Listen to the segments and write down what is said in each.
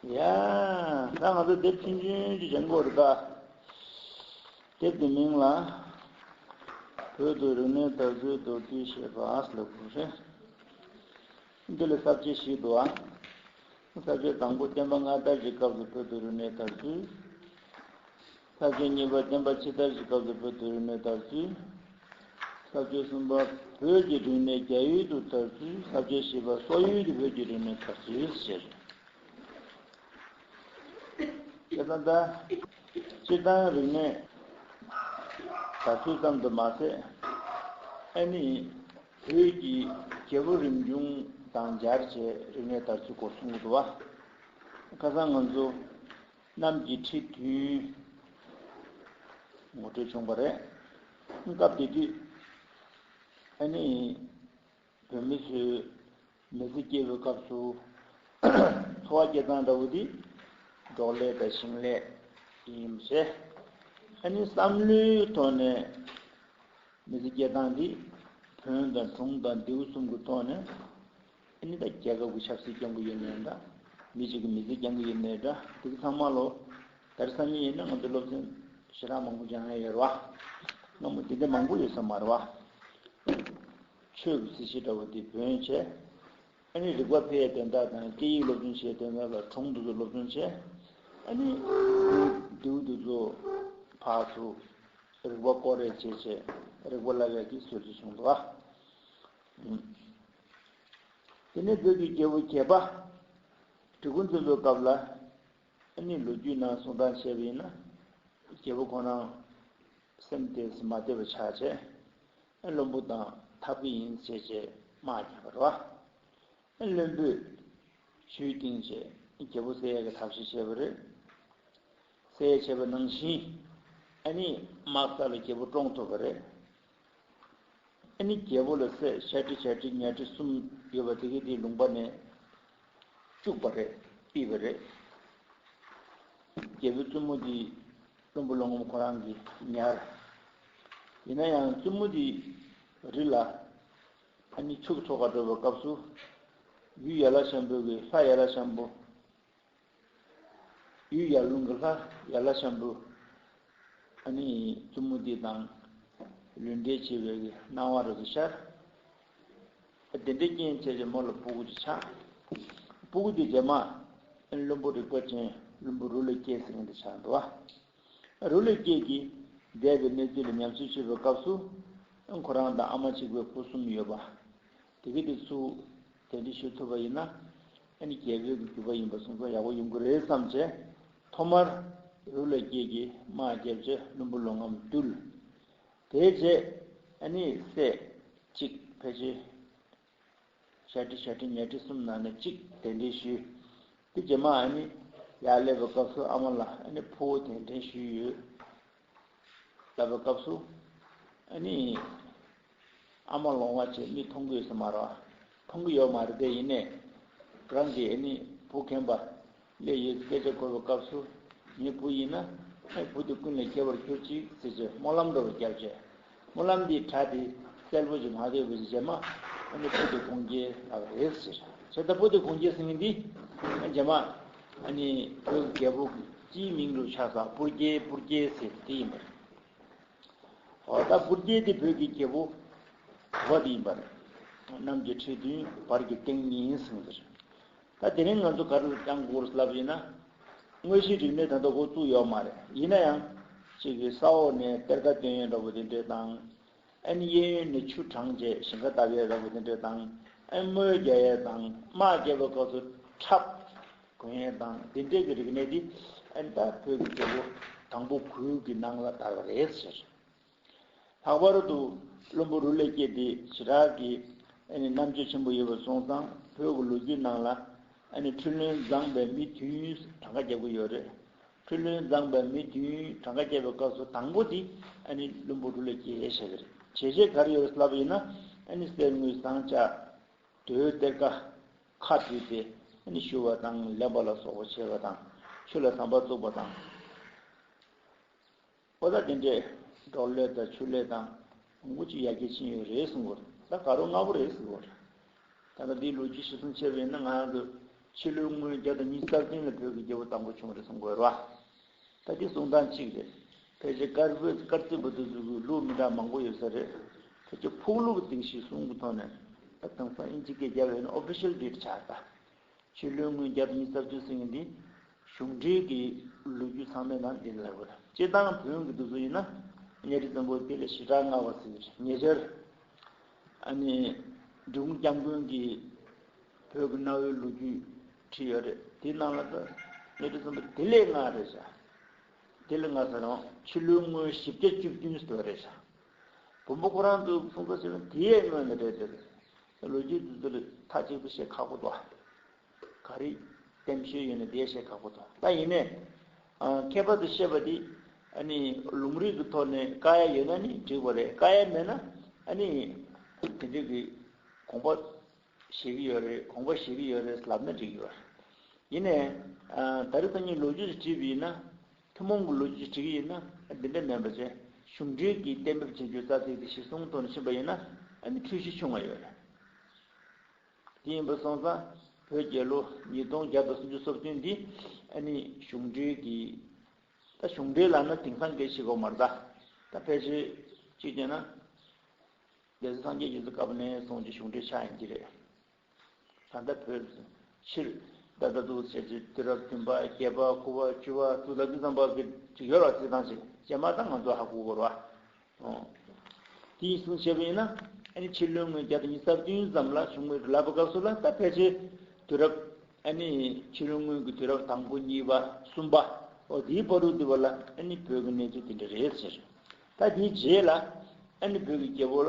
ཡང་ད་ང་ཚོ་དེབ་ཆུང་ཆུང་གཅིག་བྱེད་མགོ་རུ་བཏགས། དེབ་དེའི་མིང་ལ། བོད་དུ་རིག་གནས་དར་རྒུད་མདོར་བསྡུས་ཞེས་པ་ཨཱས་ལ་གོ་རེ། འདི་ལས་གསར་བརྗེ་ཞིག་འདུག་ཨང། གསར་བརྗེ་དང་པོ་བསྟན་པ་སྔ་དར་གྱི་སྐབས་སུ་བོད་དུ་རིག་གནས་དར་རྒུད། ཚབ་བྱོལ་གཉིས་པ་བསྟན་པ་ཕྱི་དར་གྱི་སྐབས་སུ་བོད་དུ་རིས་མེད་དར་ཚུལ། ཚབ་བྱོལ་གསུམ་པ་བོད་ཀྱི་རིས་མེད་རྒྱ་ཡུལ་དུ་དར་ཚུལ་ཚབ་བྱོལ་བཞི་པ་སོག་ཡུལ་དུ་བོད་ཀྱི་རིས་མེད་དར་ཚུལ་ཞེས་རེད། དེ་ལྟ་ན། སྤྱིར་བཏང་རིས་མེད་དར་ཚུལ་ཙམ་དུ་མ་ཟད། ཨེ་ནི། བོད་ཀྱི་རྒྱལ་པོ་རིམ་བྱུང་དང་སྦྱར་བྱས་རིས་མེད་དར་ཚུལ་སྐོར་གསུང་གི་འདུག་བ། ཁ་སང་ང་ཚོ་རྣམས་ཀྱི་ཁྲིད་མཐུན། ངོ་སྤྲོད་བྱུང་བ་རེད། སྐབས་དེ་དུས། ཨ་ནི། བོད་མི་ཚོས། མི་ཚེ་སྐྱེལ་བའི་སྐབས་སུ། འཚོ་བ་སྐྱེལ་སྟངས་འདྲ་བོ་དེ། འབྲོག་ལས་དང་ཞིང་ལས། ཡིན་མི་སྲིད། ཨ་ནི་བསམ་བློའི་ཐོག་ནས། མི་ཚེ་སྐྱེལ་སྟངས་དེ། བོན་དང་གྲོང་དང་ལྡེའུ་གསུམ་གྱི་ཐོག་ནས། ཨ་ནི་ད་རྒྱ་ག་གུ་ཆབ་སྲིད་རྐྱང་གུ་ཡོད་ནའི་འདྲ། མི་གཅིག་གི་མི་ཚེ་རྐྱང་གུ་ཡོད་ནའི་འདྲ་འདུག་ཚང་མ་ལོ་ཟླར་སང་ཉིན་ཡིན་ན་ང་ཚོ་སློབ་ཚན་ཞེ་དྲག་མང་པོ་སྦྱང་ཡས་ཡོད་ར་བ། སྔ་མོ་དེ་འདྲ་མང་པོ་ཡོད་ས་མ་ར་བ། ཆོས་ཀུ་ཚི་ཤི་ད་བུ་དེ་བོན་བྱས། ཨ་ནི་རིག་པ་འཕེལ་ཡས་དོན་དག་དང་སྐད་ཡིག་སློབ་སྦྱོང་བྱས་དོན་དག་ལ་གྲོང་དུ་ཚུ་སློབ་སྦྱོང་བྱས། ཨ་ནི་དེའུ་དུ་ཚུ་ཕག་ཚུ་རིག་པ་སྐོར་རེ་བྱས་བྱས་རིག་པ་སླ་བས་ཀི་སོད་ཚུ་བྱུང་འདུག་ཨ། དེ་ནས་བོད་ཀྱི་རྒྱལ་བོ་གྱད་པ་གྲི་གུ་འཛིན་པའི་སྐབས་ལ་ནི་ལོ་རྒྱུས་ནང་གསུང་སྟངས་བྱས་པ་ཡིན་ན་རྒྱལ་བོ་ཁོ་རང་སེམས་དེ་སུ་མ་བདེ་བ་ཆགས་ཆེ་བློན་པོ་དང་འཐབ་གི་ཡིན་ཟེར་ཆེ་དམག་རྒྱག་པར་བ་བློན་པོས་ཇུས་བཏིང་ཆེ་རྒྱལ་བོ་སེ་ཡ་གི་འཐབ་བྱེད་བྱས་པ་རེད། སེ་ཡ་བྱས་པ་ནང་བཞིན་ཨ་ནི་དམག་ས་ལ་རྒྱལ་བོ་བཀྲོངས་ཐུབ་པ་རེད། ཨེ་ནི་རྒྱལ་པོ་ལ་སྲས་ཤ་ཁྲི་བྱ་ཁྲི་གཉའ་ཁྲི་གསུམ་ཡོད་པ་དེ་གས་དེའི་ལུང་པ་ནས་བཅུག་པ་རེད་པི་བ་རེད། རྒྱལ་པོའི་བཙུན་མོ་དེའི་བློན་པོ་ལོ་ངོམ་ཁོ་རང་གིས་ཉར། ཡིན་ན་ཡང་བཙུན་མོ་དེའི་རི་ལ་ཨེ་ནི་ཕྱུགས་འཚོ་ག་སྤྲོད་པའི་སྐབས་སུ། ཡུལ་ཡ་ལ་ཤམ་བོད་ཀྱི་ལྷ་ཡ་ལ་ཤམ་བོ། གཡུ་ཡར་ཀླུང་གི་ལྷ་ཡར་ལྷ་ཤམ་བུ། ཨ་ནི་བཙུན་མོ་དེ་དང་ལུས་འབྲེལ་བྱས་པའི་སྣང་བ་རོལ་དུ་ཤར། དེ་འདྲའི་རྐྱེན་བྱས་ཏེ་མོ་ལ་སྤུ་གུ་ཅིག་ཆགས། སྤུ་གུ་དེ་རྗེས་མ་བློན་པོ་རིག་པ་ཅན་བློན་པོ་རུ་ལས་སྐྱེས་སེང་གེ་དེ་ཆགས་འགྲོ་བ། རུ་ལས་སྐྱེས་ཀྱིས་འདས་པའི་གནས་ཚུལ་ལ་ཉམས་སུ་ཆུད་པའི་སྐབས་སུ། ཁོ་རང་དང་ཨ་མ་གཅིག་པའི་བུ་གསུམ་ཡོད་པ། དེ་གི་དེ་ཚུ་དེ་འདྲི་ཞུ་ཐུབ་པ་ཡིན་ན་ཨ་ནི་རྒྱལ་པོའི་གི་རྒྱུ་པ་ཡིན་པ་སོང་ཙང་ཡག་པོ་ཡོང་གི་རེད་བསམ་བྱས། ཐོག་མར་རུ་ལ་སྐྱེས་ཀྱི་མ་བརྒྱབ་རྗེས་བླུན་པོ་ལོང་ངམ་བཏུལ། དེའི་རྗེས་ཨ་ནི་སྲས་གཅིག་ཕལ་ཆེ། ཤ་ཁྲི་ཤ་ཁྲི་ཉལ་ཁྲི་གསུམ་ནང་ནས་གཅིག་དེ་འདྲི་ཞུ། དེ་རྗེས་མ་ཨ་ནི་ཡར་སླེབས་པའི་སྐབས་སུ་ཨ་མ་ལ་ཨ་ནི་ཕུ་བོ་དེ་འདྲེན་ཞུས་ཡོད། བལྟ་བའི་སྐབས་སུ་ནི། ཨ་མ་ལོང་བ་ཆེ་མི་མཐོང་གི་ཟེར་མ་རོ། མཐོང་གི་ཡོད་མ་རེད་དེ་ཡིན་ནས། རང་གི་ནི་བུ་མཁན་པ་ལས་ཡོད་སྐད་ཆ་གོ་བའི་སྐབས་སུ། ངའི་བུ་ཡིན་ན། བུ་དེ་ཀུན་ལས་ཁྱད་པར་གྱུར་ཅིག་ཟེར་ཚེ་སྨོན་ལམ་འགྲོ་བའི་སྐྱབས་བྱས། སྨོན་ལམ་འདི་གྲ་སྟེ་གསལ་པོ་ཞིག་མ་རེད་བུ་ཅེས་བྱས་མ་ཨ་ནི་པུ་ཏི་གུང་རྒྱལ་ལགས་རེད་ཟེར། ཟེར་ད་པུ་ཏི་གུང་རྒྱལ་ཟེར་མཁན་འདི་ཨ་ཇེ་མ་ཨ་ནི་བོད་ཀྱི་རྒྱལ་པོ་སྤྱིའི་མིང་རུ་ཆགས་ས་པུར་རྒྱལ་པུར་རྒྱལ་ཟེར་དེ་ཡིན་པ་རེད། ཨོ་ད་པུར་རྒྱལ་དེ་བོད་ཀྱི་རྒྱལ་པོ་བ་དེ་ཡིན་པ་རེད། གནམ་གྱི་ཁྲི་བདུན་བར་གྱི་སྟེང་ཉིན་ཟིང་ཟེར། ད་དེ་རིང་ང་ཚོ་ག་རེ་ལ་བྱང་གོར་ལབ་ཡིན་ན། དངོས་གཞིའི་རིག་གནས་ད་ལྟ་འགོ་བཙུགས་ཡོད་མ་རེད་ཡིན་ན་ཡང། གཅིག་གིས་ས་འོག་ནས་གཏེར་ཁ་སྟོན་ཡོད་འདྲ་བོ་དེ་འདྲས་དང། ཨན་གཡས་གཡོན་ནས་ཆུ་དྲངས་རྗེས་ཞིང་ཁ་བཏབ་ཡོད་འདྲ་བོ་དེ་འདྲས་དང། ཨན་དམོད་རྒྱག་ཡས་དང་དམག་རྒྱག་པའི་སྐབས་སུ་ཁྲབ། གོན་ཡས་དང་དེ་འདྲས་ཀྱི་རིག་གནས་དེ་ཨན་ད་བོད་ཀྱི་རྒྱལ་པོ་དང་པོ་གུའུ་གི་ནང་ལ་དར་བ་རེད་ཟེར། ལྷག་པར་དུ་བློན་པོ་རུ་ལས་སྐྱེས་དེ་བྱེ་བྲག་གི་རྣམ་དཔྱོད་ཆེན་པོ་ཡོད་པར་སོང་ཙང་བོད་ཀྱི་ལོ་རྒྱུས་ནང་ལ་འཕྲུལ་བློན་བརྫངས་པའི་མི་དུས་ཡུན་གྲངས་ཀ་བརྒྱབ་གི་ཡོད་རེད། འཕྲུལ་བློན་བརྫངས་པའི་མི་དུས་ཡུན་གྲངས་ཀ་བརྒྱབ་པའི་སྐབས་སུ་དང་པོ་དེ་བློན་པོ་རུ་ལས་སྐྱེས་ཞེས་བྱ་བ་རེད། བྱས་རྗེས་ག་རེ་ཡོད་རེད་ལབ་ཡིན་ན་གསེར་དངུལ་ཟངས་ལྕགས་དུས་གཏེར་ཁ་ཁ་བྲིས་ཏེ་བཞུ་བ་དང་ལེན་པ་ལ་སོགས་པ་བྱས་པ་དང་ཆོས་ལ་བསམ་པ་བཙུགས་པ་དང། ཁོ་ཚ་དེ་འདྲས་འབྲོག་ལས་དང་ཆུ་ལས་དང་དགུ་གཅིག་ཡར་རྒྱས་ཕྱིན་ཡོད་རེད་གསུངས་ད་ག་རོ་ལྔ་བོ་རེད་ཟེར་བ་རེད། ད་ལྟ་འདིའི་ལོ་རྒྱུས་ཞིབ་གསུམ་ཕྱེ་བ་ཡིན་ན་ང་ཡང་དུས་ཕྱི་ལོའི་སྔོན་བརྒྱ་དང་ཉིས་རྩ་བདུན་ལ་བོད་ཀྱི་རྒྱལ་པོ་དང་པོ་བྱུང་རེད་གསུངས་དགོས་རེད་བ། ད་འདི་གསུང་སྟངས་གཅིག་རེད། ཕལ་ཆེར་དཀར་བོད་དཀར་བཙན་པོ་དེ་ཚོའི་གུས་ལུགས་མི་འདྲ་མང་པོ་ཡོད་ས་རེད། ཁྱེད་ཀྱི་ཕུགས་ལུགས་དེ་གཞིས་སྲུང་གི་ཐོག་ནས་ད་དེང་སང་དབྱིན་ཇི་སྐད་རྒྱབ་ཡོད་ན official date ཆགས་ད། ཕྱི་ལོའི་སྔོན་རྒྱབ་ཉིས་སྟབས་བཅུ་སྲིང་འདི་གཞུང་འབྲེལ་གྱི་ལོ་རྒྱུས་ཚང་མའི་ནང་འདི་ནི་ལྷག་པར་སྤྱི་བཏང་བོན་གྱི་འདུག་ཚུལ་ཡིན་ན་གཉའ་ཁྲི་བཙན་པོ་དཔལ་ལ་ཞི་དྲག་མངའ་བ་སྲིད་ཀྱི་ཉེ་ཆར། འབྲི་གུང་སྐྱབས་མགོན་གྱིས་བོད་ཀྱི་གནའ་བོའི་ལོ་རྒྱུས་བྲིས་ཡོད་རེད་དེའི་ནང་ལ་ད་གཉའ་ཁྲི་བཙན་པོ་དེ་ལས་སྔ་རེད་བྱ། དེ་ལས་སྔ་ཟེར་རང་ཕྱི་ལོའི་སྔོན་བཞི་བརྒྱ་བཅུ་བདུན་ཟེར་བ་རེད་བྱ། བོན་པོ་ཁོ་རང་ཚོས་ཕུང་ཁ་བྱས་ན་དེའི་སྔོན་ལ་རེད་ཟེར། ལོ་རྒྱུས་འདི་ཚོ་ལས་མཐའ་གཅིག་ཏུ་བཤད་ཁག་པོ་འདུག་ག་རེ་བསྟན་བཤད་ཡོད་ན་དེ་བཤད་ཁག་པོ་འདུག་ད་ཡིན་ནས། ཁྱད་པར་དུ་བཤད་པ་འདི་ཨ་ནི་ལུང་རིགས་ཀྱི་ཐོག་ནས་བཀའ་ཡ་ཡོད་ན་ནི་འགྲིག་པ་རེད་བཀའ་ཡ་མེད་ན་ཨ་ནི་དེ་འདྲས་ཀྱི་དགོངས་པ་བཞེས་ཀྱི་ཡོད་རེད་དགོངས་པ་བཞེས་ཀྱི་ཡོད་རེད་ལབ་ན་འགྲིག་གི་ཡོད་རེད། ཡིན་ནས། ད་རེ་ཚོ་གཉིས་ལོ་རྒྱུས་སུ་བྲིས་པ་ཡིན་ན། ཐུན་མོང་གི་ལོ་རྒྱུས་བྲི་གི་ཡིན་ན་འདི་འདྲ་མིན་པ་བཅས་གཞུང་འབྲེལ་གྱིས་གཏན་འབེབས་བྱེད་རྒྱུ་རྩ་ཚིག་དེ་གཞིར་བཟུང་དོན་ཕྱིན་པ་ཡིན་ན་འདི་འཁྲུལ་གཞི་ཆུང་ངུ་ཡོད། དེ་ཡིན་པར་སོང་ཙང་བོད་རྒྱལ་ལོ་ཉིས་སྟོང་བརྒྱ་དང་སུམ་ཅུ་སོབ་ཐུན་འདི་ནི་གཞུང་འབྲེལ་གྱི་ད་གཞུང་འབྲེལ་ལ་ན་དེང་སང་གེ་ཞིག་གོ་མ་རྡ་ད་ཕལ་ཆེར་གཅིག་བྱས་ན་རྒྱལ་སྲིད་སངས་རྒྱས་རྒྱལ་སྲིད་སྐབས་ནས་བཟུང་གྱི་གཞུང་འབྲེལ་ཆགས་ཡིན་གྱི་རེད། ད་ལྟ་བོད་ཕྱིར་བདག་ལྟ་རྟོག་བྱེད་ཚུལ་དུས་རབས་བདུན་པ་བརྒྱད་པ་དགུ་བ་བཅུ་བ་དྲུག་ལ་འདི་ཙམ་པར་གྱི་འགྲིག་ཡོད་ལ་རྩིས་ཐང་ཞིག་བཅད་མ་ཐག་ང་ཚོ་ཧ་གོ་དགོས་པ་འོང། དེ་ཡིན་གསུངས་བྱས་པ་ཡིན་ན། ཨ་ནི་ཕྱི་ལོའི་ངོས་བརྒྱ་དང་ཉི་ས་བདུན་ཙམ་ལ་བྱུང་བའི་རི་ལྭ་བ་སྐབས་སུ་ལ་ད་ཕལ་ཆེར་དུས་རབས་ཨ་ནི་ཕྱི་ལོའི་སྔོན་གྱི་དུས་རབས་དང་པོ་གཉིས་པ་གསུམ་པ་འོ་དེའི་བར་དུ་དུས་བབ་ལ་ཨ་ནི་བོད་ཀྱི་གནས་ཚུལ་དེ་འདྲ་རེད་ཟེར། ད་དེའི་རྗེས་ལ་ཨ་ནི་བོད་ཀྱི་རྒྱལ་པོ་ལ་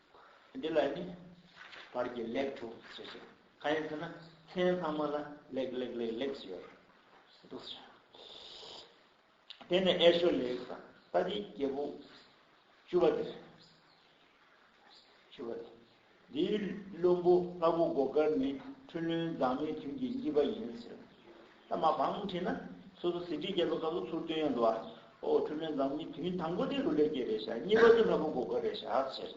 འདི་ལ་ནི་བར་གྱི་ལེགས་དྲུག་ཅེས་བཤད། གང་ཡིན་ཟེར་ན་མཚན་ལྷག་མ་ལ་ལེགས་ལེགས་ལེགས་ལེགས་ཞེས་བྱ། དེ་ནས་ཨེ་ཤོ་ལེགས་དང་ཏཱ་ཏིའི་རྒྱལ་པོ་བཅུ་བ་སྟེ། བཅུ་བ་སྟེ། འདིའི་བློན་པོ་ལྷ་བུ་སྒོ་དཀར་ནི་འཕྲུལ་བློན་མཛངས་མའི་དུས་ཀྱི་གཉིས་པ་ཡིན་ཟེར། ད་མ་འབངས་ཁྲིད་ན་སོ་སོ་ཟིན་བྲིས་རྒྱལ་ཚོགས་སྐབས་སུ་ཚུར་བསྟུན་ཡང་འདུག་ཨ། ཨོ་འཁྲུལ་མེད་འཛམ་གླིང་དུས་ཡུན་དང་པོ་དེ་རུ་ལས་སྐྱེས་རེད་ཤག་གཉིས་པ་དེ་ལྷ་བུ་འགོ་དགའ་རེད་ཤག་ཟེར།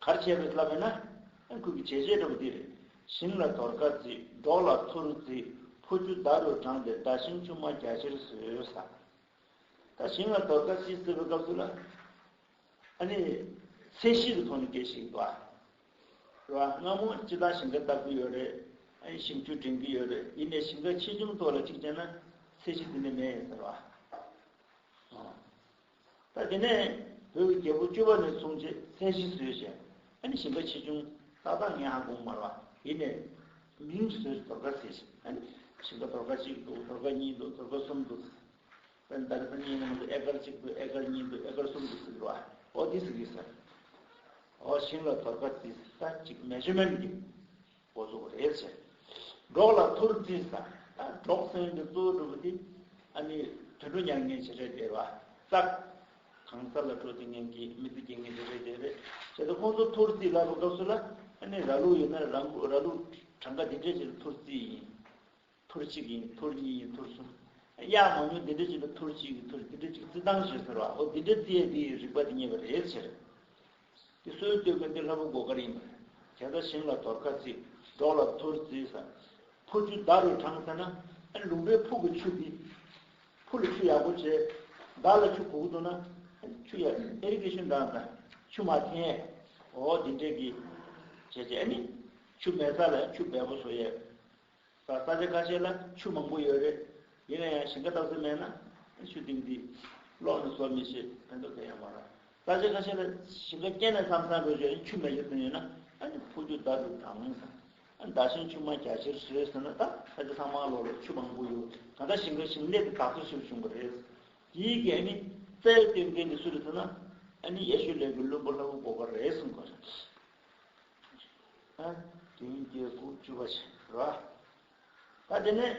གར་བྱས་པའི་ལྷ་བུ་ན། ཁུལ་གྱི་བྱས་རྗེས་འགྲོ་བ་འདི་རེད། ཞིང་ལ་དོར་ཁ་བརྫིས་འབྲོག་ལ་ཚུར་བརྫིས་ཕོ་རྒྱུ་མདའ་རུ་དྲངས་ཏེ་མདའ་ཞིང་ཆུང་མ་རྒྱ་ཆེར་བཟོས་ཟ། ད་ཞིང་ལ་དོར་ཁ་བརྩིས་ཟེར་བའི་སྐབས་སུ་ལ། ཚད་གཞི་གི་ཐོག་ནས་སྐད་ཤིག་འདུག་ཨ། རེད་བ། སྔ་མོ་སྤྱི་བཏང་ཞིང་ཁ་བཏགས་གི་ཡོད་རེད། ཞིབ་འཇུག་དྲན་གི་ཡོད་རེད་ཡིན་ནས་ཞིང་ཁ་ཆེ་ཆུང་ཐོག་ལ་གཅིག་བྱས་ན། ཚད་གཞི་དེ་ནས་མེད་ཡིན་ཟེར་བ། ད་དེ་ནས་བོད་ཀྱི་རྒྱལ་པོ་བཅུ་བ་ནས་བཟུང་ཆེད་ཚད་གཞི་བཟོས་ཤིང། ཞིང་ཁ་ཆེ་ཆུང་ཏག་ཏག་ངས་ཧ་གོ་མ་རེད་བ། ཡིན་ནས། མིང་བཟོས་ཟེར་དོར་ཁ་ཟེར་ཞིང། ཞིང་ཁ་དོར་ཁ་གཅིག་འདུག་དོར་ཁ་གཉིས་འདུག་དོར་ཁ་གསུམ་འདུག། དཔེར་ན་ད་ལྟ་ཨ་མྱེས་ནང་དུ་ཨེ་ཀར་གཅིག་དུ་ཨེ་ཀར་གཉིས་དུ་ཨེ་ཀར་གསུམ་དུ་ཟིན་འགྲོ་ཨོ་འདི་ཟིན་གི་ཟེར། ཨོ་ཤིང་ལ་དོར་ཁ་ཙི་ས་གཅིག་མེ་ཇོ་མན་གྱི་འགོ་གཙོ་རེད་ཟེར། འབྲོག་ལ་ཐུར་ཙི་ས་ད་འབྲོག་སེང་གི་གཙོ་བོ་གྲུབ་པོ་དེ་ཨ་མྱེས་དུད་འགྲོ་མྱ་ངན་བྱེད་འདྲེ་སྡེ་བ་ཙག་གང་ས་ལ་འགྲོ་དེ་ངན་གྱི་མི་ཚེ་སྐྱེལ་ངན་བྱེད་འདྲེ་སྡེ་བས་བྱས་ཏེ་ཁོང་ཚོ་ཐུར་ཙི་ལབ་པ་སྐབས་སུ་ལ་ཨ་ནི་ར་ལུག་ཡོད་ན་ར་ལུག་གྲངས་ཀ་འདི་འདྲས་བྱས་ཏེ་ཐུར་ཙི་ཡིན། ཐུར་གཅིག་གིས་ཐུར་གཉིས་ཀྱིས་ཐུར་གསུམ། དབྱར་མང་ཉུང་འདི་འདྲ་གཅིག་ལ་ཐུར་གཅིག་གིས་ཐུར་འདི་འདྲ་གཅིག་རྩི་སྟངས་ཞེས་ཟེར་བའོ་འདི་འདྲ་རྩིས་ཡས་འདིའི་རིག་པ་འདི་རྙེད་པ་རེད་ཟེར། འདི་སོའི་སྟོད་གོས་འདི་ལྷ་བུ་མགོ་དཀར་ཡིན་པ་རེད། དེ་ལྟར་ཞིང་ལ་དོར་ཁ་རྩི། འབྲོག་ལ་ཐུར་རྩི་ཟ། ཕུར་ཆུ་བདག་རུ་དྲངས་ཟེར་ན། ཨ་ནི་ལུང་པའི་ཕུག་གི་ཆུ་འདི། ཕུར་ལ་ཆུ་ཡག་པོ་བྱས། བདག་ལ་ཆུ་གུག་གི་འདུག་ན། ཆུ་ཡག་ཨེ་རིག་གི་ཤུན་དྲངས་ཟ། ཆུ་མ་འཐེན་ཡས། འོ་འདི་འདྲས་གིས། བྱས་བྱས་ཨ་ནི། ཆུ་མེད་ས་ལ་ཆུ་འབས་པོ་བཟོ་ཡས། ད་ས་ཆ་ཁ་ཤས་ལ་ཆུ་མང་པོ་ཡོད་རེད། ཡིན་ན་ཡང་ཞིང་ཁ་བཏབ་ས་མེད་ན། ཆུ་གཏིང་འདི་སློག་ནས་བཟོ་མི་ཤེས། ཕན་ཐོགས་དེ་ཡང་མ་རག། ས་ཆ་ཁ་ཤས་ལ་ཞིང་ཁ་སྐྱེལ་ནས་སམ་ས་འགོས་བྱས་ནས་ཆུ་མེད་ཟེར་ཐོན་ཡོད་ན། ཨ་ནི་ཕུག་རྒྱུ་བདག་གི་དགྲ་ངོ། བདག་ཞིང་ཆུ་མ་རྒྱ་ཆེར་བཟོས་ཟེར་ན་ད་ས་ཆ་ཐང་མ་སློག་ལོ་ཆུ་མང་པོ་ཡོད། ད་ལྟ་ཞིང་ཁ་ཞིང་ལས་ཀྱི་དྲག་སྲོལ་ཞིག་བྱུང་བ་རེད། དེའི་རྐྱེན་ཨ་ནི་རྩྭའི་སྟོན་ཁའི་མི་སུ་རེད་ཟེར་ན། ཨ་ནི་ཡེ་ཤུ་ལས་ཀྱི་བློན་པོ་ལྷ་བུ་བོ་ག་རེད་གསུངས་དགོས་རེད། བདུན་བརྒྱད་དགུ་བཅུ་པ་ཞེས་འབྱེད་པ། ད་དེ་ནས་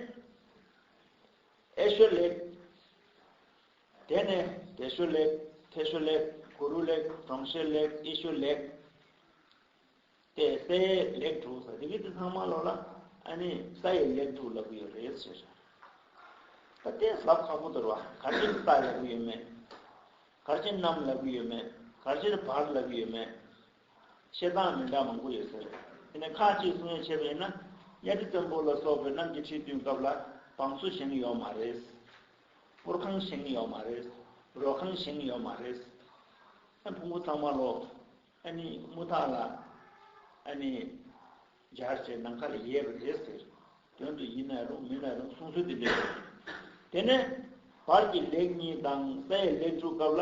ཨེ་ཤོད་ལེགས། དེ་ནས་དེ་ཤོད་ལེགས་དེ་ཤོད་ལེགས་གུ་རུ་ལེགས་གྲོང་ཤོད་ལེགས་ཨེ་ཤོད་ལེགས། དེ་སའི་ལེགས་དྲུག་ཟེར་དེ་གི་དེ་ཚང་མ་ལོག་ལ་ཨ་ནི་ས་ཡི་ལེགས་དྲུག་ལབ་གི་ཡོད་རེད་ཟེར། ད་དེ་ཟབ་ཁག་པོ་དོར་བ་གར་སྤྱིར་ས་ལབ་གི་ཡོད་མེད། གར་སྤྱིར་གནམ་ལབ་གི་ཡོད་མེད་གར་སྤྱིར་བར་ལབ་གི་ཡོད་མེད། བཤད་སྟངས་མི་འདྲ་མང་པོ་ཡོད་ཟེར། དེ་ནས་ཁ་ཅིག་གསུང་ཡ་ཆེ་བས་ན། གཉའ་ཁྲི་བཙན་པོ་ལ་སོགས་པའི་རྣམས་ཀྱི་ཁྲི་བསྡུས་སྐབས་ལ་བང་སོ་བཞེངས་ཡོད་མ་རེད། སྐོར་ཁང་བཞེངས་ཡོད་མ་རེད། རོལ་ཁང་བཞེངས་ཡོད་མ་རེད། ཨ་ཕུང་པོ་ཚང་མ་ལོ། ཨ་ནི་དམུ་ཐག་ལ། ཨ་ནི། འབྱར་བྱེད་ནམ་མཁའ་ལ་ཡལ་བ་རེད་ཟེར། དོན་དུ་ཡིན་ན་རུང་མིན་ན་རུང་གསུང་སྲོལ་དེ་འདྲ་ཡོད། དེ་ནས། བར་གྱི་ལེགས་གཉིས་དང་ས་ཡ་ལེགས་དྲུག་སྐབས་ལ།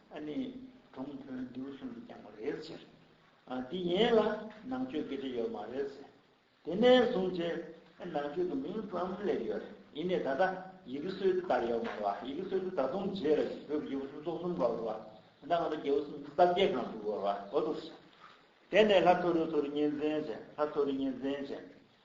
ཨ་ནི་གྲོང་དཔོན་འདུལ་གསུམ་གྱིས་ཀྱང་མ་རེག་ཕྱིར། འདི་ཡན་ལ་ནང་ཆོས་ཀྱི་དྲི་ཡོད་མ་རེད་ཟེར། དེ་ནས་བཟུང་སྤྱིར་ནང་ཆོས་ཀྱི་མིང་ཙམ་སླེབས་ཡོད་རེད། ཡིན་ནས་ད་ལྟ་ཡི་གེ་སྲོལ་དེ་ལྟར་ཡོད་མ་རེད། ཡི་གེ་སྲོལ་དེ་ད་དུང་བརྗེད་རེད་ཟེར། བོད་ཀྱི་ཡི་གེ་སྲོལ་ཚོགས་གསུམ་ག་རེད། ད་ང་ཚོ་རྒྱལ་བོ་སུམ་ཅུ་རྩ་བརྒྱད་གང་འདུག་ཟེར། དེ་ནས་ལྷ་ཐོ་རུ་ཐོ་རུ་གཉེན་འཛེན་བྱས། ལྷ་ཐོ་རུ་གཉེན་འཛེན་བྱས།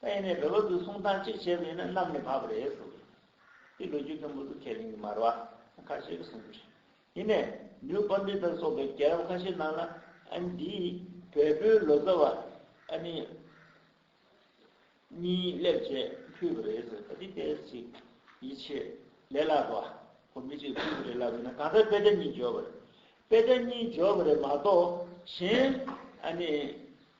ད་ཡིན་ནའི་རི་བོ་དུ་སོང་ཐང་གཅིག་བྱས་པའི་ནི་གནམ་ནས་བབས་རེད་ཟེར་གི་འདུག་ལོ་རྒྱུས་མཐོན་པོ་དུ་ཁས་ལེན་གི་མར་བ་ཁ་ཤས་གི་གསུང་རྒྱུ་རེད་ཡིན་ནའི་ནིའུ་པར་འདི་དང་སོགས་པའི་རྒྱལ་རབས་ཁ་ཤས་ནང་ལ་ཨ་ནི་འདིའི་བལ་པོའི་ལོ་ཙཱ་བ་ཨ་ནི་གཉིས་སླེབས་རྗེས་ཕུད་པ་རེད་ཟེར་གི་འདུག་དེ་ལྟས་ཅིག་ཡིད་ཆེས་ལས་སླ་བ་བོ་མི་གཅིག་ཕུད་པ་རེད་ལབ་ཡོད་ན་གང་ལྟར་དཔེ་ཆ་གཉིས་འཇོག་པ་རེད་དཔེ་ཆ་གཉིས་འཇོག་པ་རེད་མ་གཏོགས་གཞན་ཨ་ནི།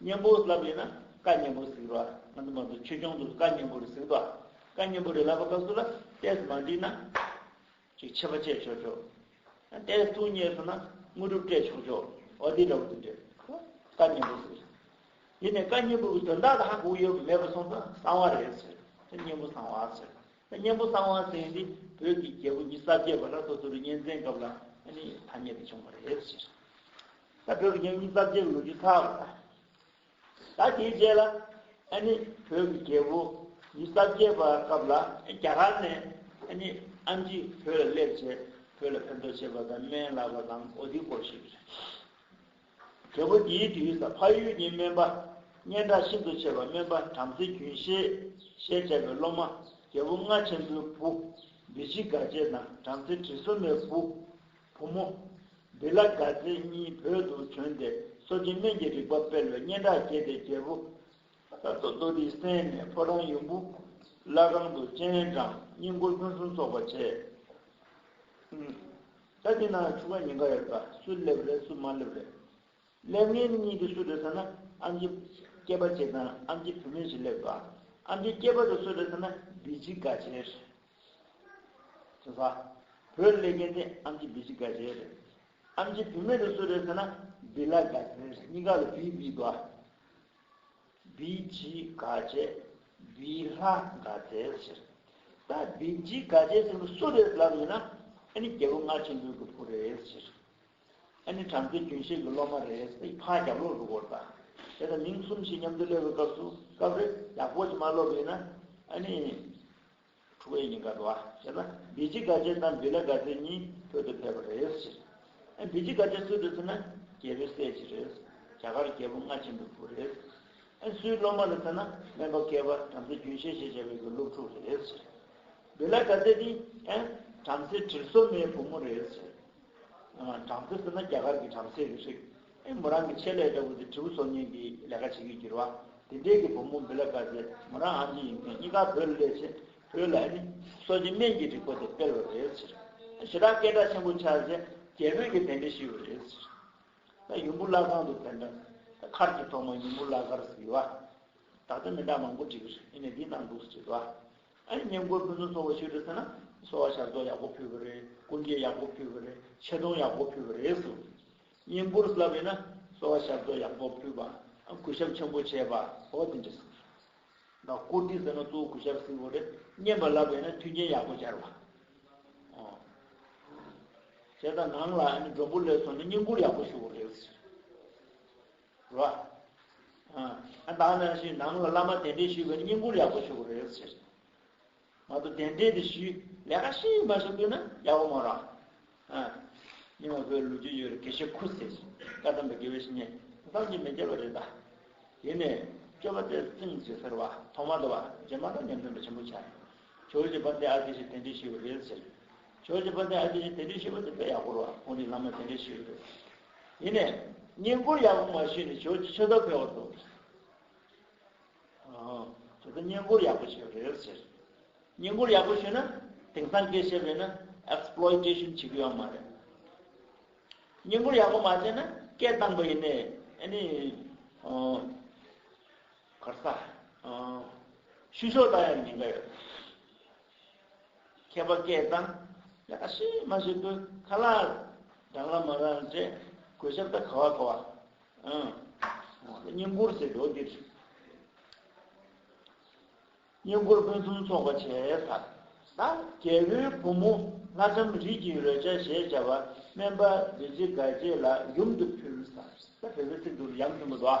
གཉེན་པོ་ལབ་ཡིན་ན་བཀའ་གཉེན་པོ་གཟིགས་རོགས་ང་ཚོ་མང་ཚོ་ཆོས་སྐྱོང་དུ་བཀའ་གཉེན་པོ་རེ་གཟིགས་དོགས་བཀའ་གཉེན་པོ་རེ་ལབ་པ་སྐབས་སུ་ལ་ཏས་མ་འགྲིག་ན་ཅིག་ཆད་པ་བཅད་ཆོག་ཆོག་ཏས་ཐུགས་མཉེས་སོང་ན་དངོས་གྲུབ་སྤྲད་ཆོག་ཆོག་འོ་དེ་འདྲ་བོ་དེ་འདྲ་བཀའ་གཉེན་པོ་གཟིགས་རོགས་དེ་ནས་བཀའ་གཉེན་པོ་གི་དོན་དག་དག་གོ་ཡོད་པ་མེད་པ་སོང་ཙང་གསང་བ་རེད་ཟེར་ད་གཉེན་པོ་གསང་བ་ཟེར་ད་གཉེན་པོ་གསང་བ་ཟེར་ཡིན་དེ་བོད་ཀྱི་རྒྱལ་པོ་ཉི་ས་བརྒྱད་པ་ལ་སོ་སོ་རུ་གཉེན་ཚན་སྐབས་ལ་ཨ་ནི་ཐ་སྙད་དེ་བྱུང་བ་རེད་ཟེར། ད་བོད་ཀྱི་རྒྱལ་ཁབ་ཅིག་ལོ་རྒྱུས་ཁག་ལ། ད་དེའི་རྗེས་ལ་ཨ་ནི་བོད་ཀྱི་རྒྱལ་པོ་ཡི་རྩ་བརྒྱད་པ་སྐབས་ལ་རྒྱ་གར་ནས་ཨ་ནི་ཨམ་ཇི་བོད་ལ་སླེབས་ཚེ་བོད་ལ་ཕན་ཐོགས་བྱེད་པ་དང་སྨན་བླ་བ་དང་ཨོ་དི་སྐོར་ཞིག་རེད། རྒྱལ་པོ་འདིའི་དུས་ས་ཕ་ཡུལ་གྱི་སྨན་པ་སྙན་གྲགས་ཤིན་ཏུ་ཆེ་བ་སྨན་པ་བྲམ་ཟེ་རྒྱུན་ཤེས་ཞེས་བྱ་བའི་སློབ་མ་རྒྱལ་པོ་རྔ་ཆེན་པོའི་བུ་བདེ་སྐྱིད་དགའ་བྱེད་དང་བྲམ་ཟེ་དྲི་བསུང་མའི་བུ། བུ་མོ། འདི་ལ་དགའ་ཚལ་གཉིས་བོད་དུ་བྱོན་ཏེ་སོ་སྐྱེ་སྨན་གྱི་རིག་པ་སྤེལ་བའི་སྙན་གྲགས་སྐྱེས་ཏེ་རྒྱལ་བུ། ལྷ་ཐོ་རྡོ་རིའི་གསེང་ནས་ཕོ་བྲང་ཡུམ་བུ། བླ་སྒང་དུ་སྤྱན་དྲངས་སྙིང་འཁོར་ཕུན་སུམ་ཚོགས་པ་བྱས། ས་འདི་ན་ཆུ་ཁ་ཉིན་ཁ་ཡོད་པ་སུ་སླེབས་རེད་སུ་མ་སླེབས་རེད། སླེབས་ངེས་གཉིས་ཀྱི་སུ་རེད་ཟེར་ན་ཨ་མཆི་སྐྱེས་པ་གཅིག་དང་ཨ་མཆི་བུད་མེད་ཞིག་སླེབས། ཨ་མཆི་སྐྱེས་པ་དེ་སུ་རེད་ཟེར་ན་བདེ་སྐྱིད་དགའ་ཆེན་རེད། ཟེར། བྱས་ཙང། བོད་གླེ་རྒན་དེ་ཨམ་ཆི་བི་ཆི་དགའ་ཞེས་རེད། ཨམ་ཆི་བི་མེད་ནི་སུ་རེད་ཟེར་ན། བི་ལ་དགའ་ཞེས་རེད། གཉིས་ཀ་ལ་བི་བི་དགའ། བི་ཆི་དགའ་བྱས། བི་ལྷ་དགའ་ཟེར་ཟེར། ད་བི་ཆི་དགའ་བྱས་ཟེར་མི་སུ་རེད་ལབ་ཡོད་ན། ཨ་ནི་རྒྱལ་པོ་མངའ་ཆེན་པོའི་གི་བུ་རེད་ཟེར། ཨ་ནི་བྲམ་ཟེ་རྒྱུན་ཤེས་གི་སློབ་མ་རེད་ཟེར་ཕ་རྒྱབ་ལོག་ཏུ་བོར་ད། དེ་ལྟར་མིང་གསུམ་ཞིག་མཉམ་དུ་སླེབས་པའི་སྐབས་སུ་སྐབས་རེ་ཡག་པོ་ཞིག་མ་སློབ་ཡོད་ན། ཨ་ནི། དྲུག་པའི་ཉིན་དགའ་བྲོ་བ་བྱས་ན་བི་ཇི་དགའ་ཆེན་དང་བི་ལ་དགའ་ཚལ་གཉིས་བོད་དུ་ཕེབས་པ་རེད་ཟེར། བི་ཇི་དགའ་ཆེན་སུའི་འདུག་ཟེར་ན་རྒྱལ་པོའི་སྲས་ཅིག་རེད། རྒྱ་གར་རྒྱལ་པོ་སྔ་ཕྱི་འདུག་བུ་རེད། སུའི་སློབ་མ་རེད་ཟེར་ན་སྨན་པ་སྐལ་པ་བྲམ་ཟེ་རྒྱུན་ཤེས་ཞེས་བྱ་བའི་གི་སློབ་ཕྲུག་རེད་ཟེར། བི་ལ་དགའ་ཚལ་ནི། བྲམ་ཟེ་དྲིལ་བསོ་མའི་བུ་མོ་རེད་ཟེར། བྲམ་ཟེ་ཟེར་ན་རྒྱ་གར་གྱི་བྲམ་ཟེ་རེད་རིག་ཨེ་མོ་རང་གི་ཆེད་ལས་ལྟ་བུ་དེ་དྲིལ་བུ་འཚོལ་སྙེག་གི་ལས་ཀ་བྱེད་ཀྱི་འགྱུར་བ་དེ་འདྲས་ཀྱི་བུ་མོ་འབིལ་ལ་དཀའ་ཟེར་མོ་རང་ཨ་འཇི་ཡིན་མཁན་གཉིས་ཀ་བོད་ལ་སླེབས་ཚེ་བོད་ལ་ཨེ་ནི་སོ་སྐྱེ་སྨན་གྱི་རིག་པ་དེ་སྤེལ་བ་རེད་ཟེར་ཞེ་དྲག་སྐད་གྲགས་ཆེན་པོ་ཆགས་ཚེ་རྒྱལ་བོད་ཀྱི་དེ་འདྲས་ཤི་བ་རེད་ཟེར་ད་ཡུམ་བུ་བླ་ཁང་དུ་ཕེབས་ན་མཁར་གྱི་ཐོག་མ་ཡུམ་བུ་བླ་མཁར་ཟེར་གི་བ་ད་ལྟ་མི་འདྲ་མང་པོ་བྲིས་གི་རེད་ཨེ་ནི་འདི་གནང་འདུག་ཟེར་གི་བ་ཉེན་རྒུད་ཕུན་སུམ་ཚོགས་པ་ཞིག་རེད་ཟེར་ན་གསོ་བ་ཞབས་བཏོགས་ཡག་པོ་ཕུལ་བ་རེད་སྐུ་འགྱེད་ཡག་པོ་ཕུལ་བ་རེད་ཆེ་མཐོང་ཡག་པོ་ཕུལ་བ་རེད་ཟེར། ཉེན་རྒུར་ལབ་ཡོད་ན་གསོ་བ་ཞབས་བཏོགས་ཡག་པོ་ཕུལ་བ་གུས་ཞབས་ཆེན་པོ་བྱས་པ་འོ་དེ་འདྲ་ཟེར། ད་བཀུར་སྟི་ཟེར་ན་གཙོ་བོ་གུས་ཞབས་ཟེར་བ་རེད་བརྙན་པར་ལབ་ཡོད་ན་མཐུན་རྐྱེན་ཡག་པོ་སྦྱར་བ་འོ། བྱས་ཙང་ནང་ལ་མགྲོན་པོ་ལས་སོང་ནས་བརྙན་བཀུར་ཡག་པོ་ཞུ་བ་རེད་ཟེར། རོ། ཨ་བདག་ནང་བཞིན་ནང་ལ་བླ་མ་གདན་འདྲེན་ཞུས་པས་བསྙེན་བཀུར་ཡག་པོ་ཞུ་དགོས་རེད་ཟེར། ང་ཚོ་གདན་འདྲེན་དེ་ཞུས་ལས་ཀ་ཤི་མ་ཤི་ལྟོས་ན་ཡག་པོ་མ་རང། སྙིང་བོ་བོད་ལུགས་རྒྱུས་ཡོད་རེད་དགེ་བཤེས་ཁུ་ཟེར་བཀའ་གདམས་པའི་དགེ་བའི་བཤེས་གཉེན་བདག་གཅིག་མི་བརྒྱ་བ་རེད་ད། དེ་ནས་སྤྱོད་པ་སྟེར་ཙིང་ཟེར་ཟེར་བ་ཐོག་མ་དང་བ་རྗེས་མ་དང་ཉམས་ལེན་པ་ཆེན་པོ་བྱ་རེད། ཇོ་བྱེད་པ་འདི་ཨ་དགེ་བཤེས་གདན་འདྲེན་ཞུས་པ་རེད་ཟེར། ཇོ་བྱེད་པ་འདི་ཨ་དགེ་བཤེས་གདན་འདྲེན་ཞུས་པ་འདི་དཔེ་ཡག་པོ་རོ་ཨ་ཁོང་འདི་བླ་མ་གདན་འདྲེན་ཞུས་པ་རེད། ཡིན་ནས། བསྙེན་བཀུར་ཡག་པོ་མ་བྱས་ནས་ཁྱོད་ཀྱི་ཕྱི་ཐབས་འཕེལ་བར་འདོད། ཁྱོད་ཀྱི་བསྙེན་བཀུར་ཡག་པོ་བྱས་པ་རེད་ཟེར། བསྙེན་བཀུར་ཡག་པོ་བྱས་ན་དེང་སང་སྐད་བཤད་པས་ན Exploitation བྱེད་ཀྱི་ཡོད་མ་རེད། བསྙེན་བཀུར་ཡག་པོ་མ་བྱས་ན་སྐད་བཏང་པ་ཡིན་ནས་ཨནི། གར་ས། བཤུ་གཞོག་བཏང་ཡང་ཉེན་ཁ་ཡོད། མཁས་པ་སྐད་བཏང། ཡ་ཨ་ཤི་མ་ཤི་ཁོའི་ཁ་ལག་རང་རང་མ་རང་རེད། གོས་ཞབས་ད་ག་བ་ག་བ། ཨང། བསྙེན་བཀུར་ཟེར་འགྲོ་འདིར། བསྙེན་བཀུར་ཕུན་སུམ་ཚོགས་པ་བྱས་ཚར། རྒྱལ་པོའི་བུ་མོ་ལྷ་ལྕམ་རིས་ཀྱི་རོལ་ཆ་ཞེས་བྱ་བ་སྨན་པ་བདུད་རྩི་དགའ་བྱེད་ལ་ཡུམ་དུ་ཕུལ། ད་བོད་པའི་ཚིག་ཏུ་ཡམ་ཆེན་པོ་ཟླ་བ།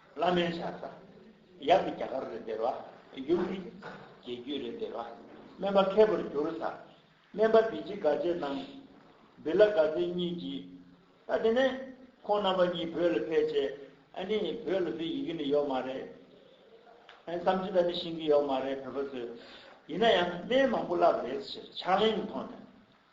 བླ་མའི་ཕྱག་རྩ། ཡབ་ཀྱི་རྒྱ་གར་རེ་སྟེར་བ། ཡུམ་གྱི་རྗེས་རྒྱུད་རེ་སྟེར་བ། སྨན་པ་མཁས་པར་གྱུར་བཟའ། སྨན་པ་བི་ཇི་དགའ་བྱེད་རྣམས། བི་ལ་དགའ་བྱེད་གཉིས་ཀྱིས། ད་དེ་ནས། ཁོང་རྣམ་པ་གཉིས་བོད་ལ་ཕེབས་རྗེས། ཨ་ནི། བོད་ལ་བི་ཡི་གི་ནི་ཡོག་མ་རེད། ཨ་ནི། བསམ་ཅི་ད་ནི་ཤིང་གི་ཡོག་མ་རེད་བོད་པ་ཚོས། ཡིན་ན་ཡང་སྨན་མང་པོ་བསླབས་པ་རེད་ཟེར་ཕྱག་ལེན་མཐོང་ནས།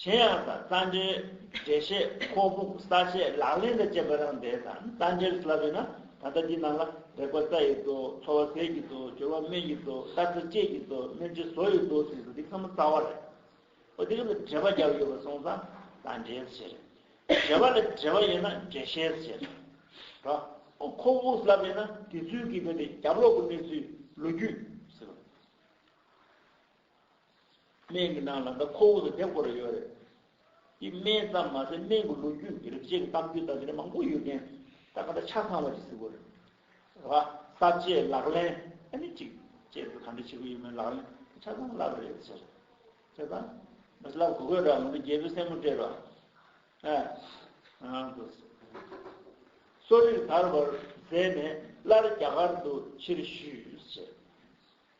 གཞན་ཡང་ས་རྩ་འགྲེལ་འགྲེལ་བཤད་ཁོག་འབུགས་ས་བཅད་ལག་ལེན་དུ་བཅད་པ་རང་བདེ་དང་རྩ་འགྲེལ་བསླབ་ཡོད་ན་ད་ལྟ་འདི་རྣམས་ལ་རེག་པ་རྩ་ཡི་མདོ་ཚོར་བ་ཟས་ཀྱི་མདོ་སྦྱོར་བ་སྨན་གྱི་མདོ་ལྟ་ཚུལ་དཔྱད་ཀྱི་མདོ་སྨིན་བྱེད་བཟོ་ཡི་མདོ་ཟེར་དུས་འདི་ཚང་མ་རྩ་བ་རེད། ཨོ་དེ་ག་ལ་འགྲེལ་པ་བརྒྱབ་ཡོད་པ་སོང་ཙང་ད་འགྲེལ་བྱེད་རེད། འགྲེལ་པ་ལ་འགྲེལ་པ་ཡོད་ན་འགྲེལ་བཤད་བྱེད་རེད། རོ། ཨོ་ཁོག་འབུགས་བསླབ་ཡོད་ན་དེ་ཚུལ་གྱིས་དེ་ནི་རྒྱབ་ལོག་གི་གནས་ཚུལ་ལོ་རྒྱུས། ཟེར། སྨན་གྱི་ནང་ལ་འདི་ཁོ་བོ་ཚོ་དེབ་སྐོར་རེ་ཡོད་རེད། དེ་སྨན་ཙམ་མ་ཟད་སྨན་གྱི་ལོ་རྒྱུས་རིག་བྱེད་ཀྱི་གཏམ་རྒྱུད་ལྟ་བུ་རེ་མང་པོ་ཡོད་མཁན་ད་ག་འདྲ་ཆ་ཚང་བ་ཅིག་གཟིགས་དགོས་རེད། ཨ་ས་བཅས་ལག་ལེན་ཨ་ནི་ཅིག་བཅས་ཚོ་ག་འདྲ་བྱེད་ཀྱི་ཡོད་མེད་ལག་ལེན་དེ་ཆ་ཚང་བསླབ་རེ་ཟེར། ཆ་ཚང་མ་བསླབ་དགོས་དགོས་ར་ང་ཚོ་རྒྱལ་པོའི་སྲས་མོ་སྤྲད་རོགས་ཨ། ཨང་དུ་ཟེར། གསོ་རིག་དར་བར་མཛད་ནས་སླར་རྒྱ་གར་དུ་ཕྱིར་བཞུད།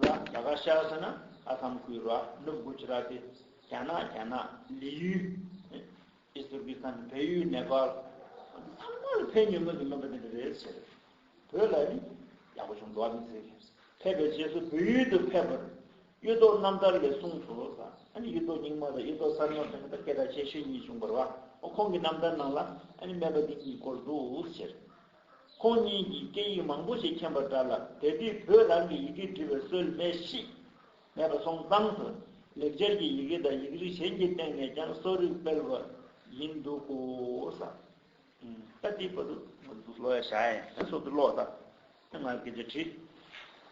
ར་རྒྱ་གར་ཤ་ས་ན་ཨ་ཁམ་ཁུའི་ར་ནུབ་གུ་ཇི་ར་ཏི་རྒྱ་ནག་རྒྱ་ནག་ལི་ཡུལ་ཨིས་ཏུར་ཀི་སྟན་བལ་ཡུལ་ནེ་པ་ལ་ཚང་མ་ལ་ཕན་ཉོན་མོད་ཀྱི་མིན་པ་འདི་འདྲ་རེད་ཟེར་བོད་ལ་ནི་ཡག་པོ་བྱུང་འགྲོ་བ་མི་ཚེ་རིང་ཕེབས་པའི་རྗེས་སུ་བོད་ཡུལ་དུ་ཕེབས་པར་གཡུ་ཐོག་རྣམ་ཐར་ལས་གསུངས་སོ་ལ་ཨ་ནི་གཡུ་ཐོག་རྙིང་མ་དང་གཡུ་ཐོག་གསར་མ་ཐོན་པ་སྐད་གྲགས་ཆེ་ཤོས་གཉིས་བྱུང་བར་བ་ཁོང་གི་རྣམ་ཐར་ནང་ལ་ཨ་ནི་སྨད་པ་འདི་གཉིས་སྐོར་འདུག་ཟེར། ཁོང་གཉིས་ཀྱིས་སྐད་ཡིག་མང་པོ་ཞིག་མཁྱེན་པ་འདྲ་ལ་དེ་དུས་བོད་རང་གི་ཡི་གེ་འབྲི་བའི་སྲོལ་མེད་གཤིས། མེད་པ་སོང་ཙང་དུ་ལེགས་སྦྱར་གྱི་ཡི་གེ་དང་ཡིག་རིགས་གཞན་གྱི་སྟེང་ནས་ཀྱང་གསོ་རིག་སྤེལ་བ་ཡིན་འདུག་གོ། ཨ་ཏི་པ་ཏུ། ལོ་ཡ་ཞཱ་ཡན་སོགས་ཀྱི་ཀློག་ད། ང་ཀི་ཇ་བྲི།